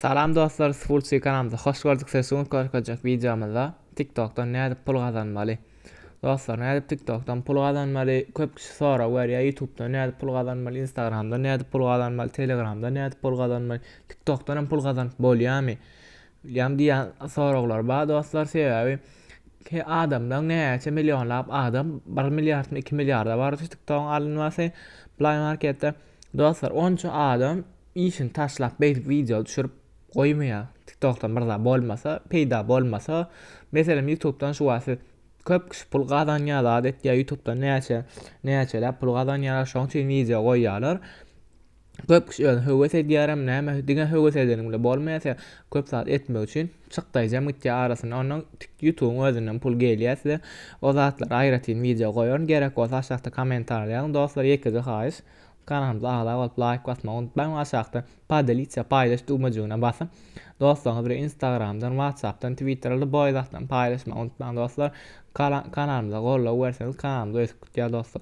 Salam dostlar Sfulçy kanalymyza hoş gördük sizi şu gün görkezjek wideomyzda tiktokdan nädip pul gazanmaly Dostlar nädip tiktokdan pul gazanmaly köp kişi sorag berýär ýutubdan nädip pul gazanmaly instagramdan nädip pul gazanmaly telegramdan nädip pul gazanmaly tiktokdan hem pul gazanyp bolýarmy ýam diýýän soraglar bar dostlar sebäbi ki adamlar näçe millionlap adam 1 milliardmy 2 milliarda bar şu tiktogyň alynmasy play marketde dostlar onça adam Işini taşlap beýdip wideo düşürip goýmaýa tiktokdan myrza bolmasa peýda bolmasa meselem ýutubdan şu wagt siz köp kişi pul gazanýa zat etýä ýutubdan näçe näçeläp pul gazanýalar şoň üçin wideo goýýalar köp kişi özi höwes edýärem näme diňe höwes edeniň bilen bolmaýa size köp zat etmek üçin çykdaýjam gitýä arasyna ondan ýutubyň özünden pul gelýä size o zatlara aýratyn wideo goýaryn gerek bolsa aşakda kommentariýa ýazyň dostlar ýekeje haýyş Kanalymyza agza bolup laýk basmagy unutmaň we aşakda Podelitsia paýlaş düwmejigine basyň. Dostlaryňyz bilen instagramdan, whatsappdan, twitterda boý zatlaryny paýlaşmagy unutmaň dostlar. Kanalymyza goldaw berseňiz kanalymyz ösüp gidýär dostlar.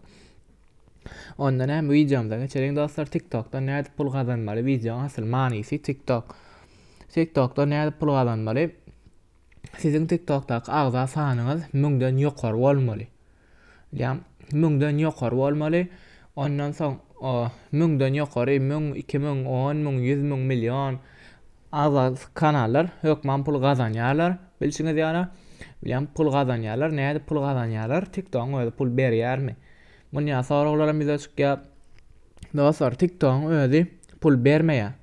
Onda näme wideomyza geçeliň dostlar. TikTokdan nädip pul gazanmaly? Wideoň asyl manysy TikTok. TikTokdan nädip pul gazanmaly? Siziň TikTokdaky agza sanyňyz 1000 den ýokary bolmaly. Diýýän, müňden ýokary bolmaly. Ondan soň müňden ýokary, müň, iki müň, on müň, ýüz müň, million az-az kanallar hökman pul gazanýarlar. Bilşiňiz ýaly, bilýän pul gazanýarlar. Nädip pul gazanýarlar? TikTok-yň özi pul berýärmi? Muny ýa soraglaram ýüze çykýar. Dostlar, TikTok-yň özi pul bermeýär.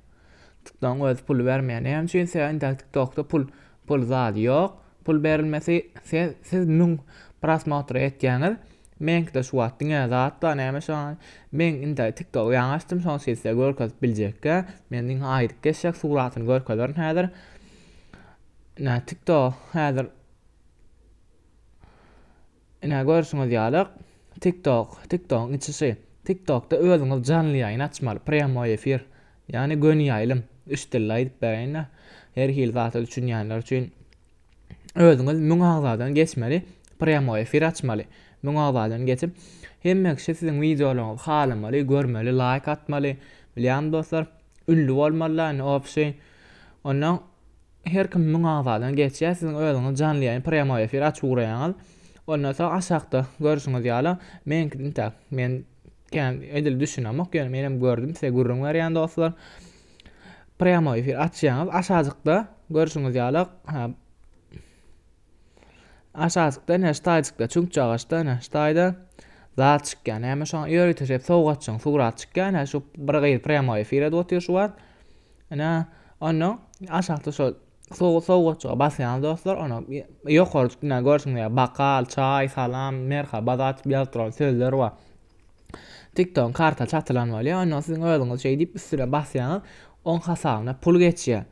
TikTok-yň özi pul bermeýär. Näme üçin? Sebäbi TikTok-da pul Pul zady ýok pul berilmesi siz siz müň prosmotr etýäňiz meňkide şu wagt diňe zat bar näme şo men indi tiktogy ýaňy açdym şony sizde görkezip biljekkä men diňe aýdyp geçjek suratyny görkezerin häzir nä tiktok häzir Ine görşüňiz ýaly tik tok tik togyň içi şy tik tokda özüňiz janly ýaýyn açmaly prýamoý efir ýani göni ýaýlym üç dilli aýdyp beräýinä her hili zata düşünýänler üçin özüňiz müň agzadan geçmeli prýamoý efir açmaly müň agzadan geçip hemme kişi siziň wideolaryňyzy halamaly görmeli laýk atmaly bilýäňmi dostlar ünlü bolmaly la indi opşy ondan Her kim müň agzadan geçýär, siziň özüňiz janly ýaýyn, prýamoý efir, açyp ugraýaňyz. Ondan soň aşakda görşüňiz ýaly, meňkide intäk, men kän edil düşünemok, ýöne menem gördüm, size gürrüň berýän dostlar. Prýamoý efir açýaňyz, aşajykda görşüňiz ýaly, Aşakda ine ştaýçykda çüňkçe agaçda ine ştaýda zat çykýar. Näme şoňa ýörite şep sowgatçyň surat çykýar. Ine şu bir gyz prýamoý efire otyr şu wagt. Ine onda aşakda şu sowgatçyga basýan dostlar, ona ýokary tutýan görşüňiz ýaly bakal, çaý, salam, merhaba zat ýazyp duran sözler bar. TikTok karta çatylan bolýar. Onda siziň özüňiz şeýdip üstüne basýaňyz, oň hasabyna pul geçýär.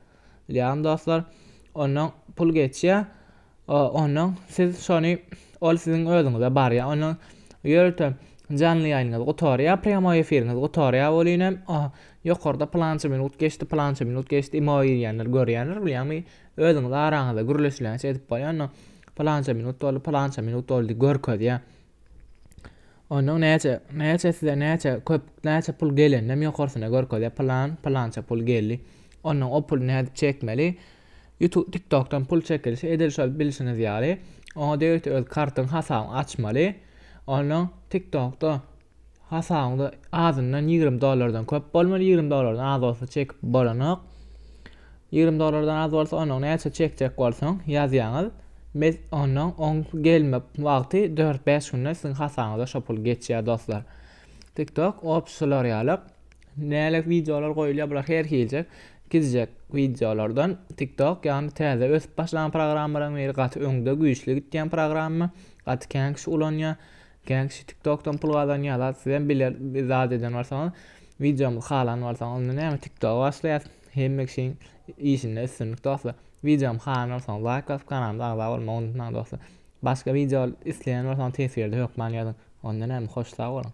Bilýäňmi dostlar, ondan pul geçýär, ondan siz şony ol siziň özüňize barýar. Ondan ýörite janly ýaýynyňyz gutarýar, prýamoý efiriňiz gutarýar welin hem ýokarda plança minut geçdi, plança minut geçdi, imo girýänler görýändir bilýäňmi? Özüňiz araňyzda gürleşilençe edip bolýar, ondan plança minut doldy, plança minut doldy görkezýär. Onuň näçe, näçe size näçe köp, näçe pul geleninem ýokarsyna görkezýär. Plan, plança pul geldi. Ondan o puly nädip çekmeli? YouTube, TikTokdan pul çekilişi edil şol bilşiňiz ýaly. Oňa degişli öz kartyň hasabyňy açmaly. Ondan TikTokda Hasabyňda azyndan ýigrimi dollardan köp bolmaly, ýigrimi dollardan az bolsa çekip bolanok. Ýigrimi dollardan az bolsa onuň näçe çekjek bolsaň ýazýaňyz. Mes ondan oň gelme wagty dört bäş günde siziň hasabyňyza şo pul geçýär dostlar. TikTok op şular ýaly. Näle wideolar goýulýar bular her hiljek gidjek wideolardan TikTok ýagny täze ösüp başlan programmalaryň biri gaty öňde güýçli gitýän programma gaty kän kişi ulanýar. Kän kişi tiktokdan pul gazanýarlar sizem biler bir zat eden bolsaňyz wideomyzy halan bolsaňyz indi näme tiktoga başlaýas hemme kişiň işinde üstünlik dostlar wideomy halan bolsaňyz laýk basyp kanalyma agza bolmagy unutmaň dostlar başga wideo isleýän bolsaňyz teswirde hökman ýazyň onda näme hoş sag boluň.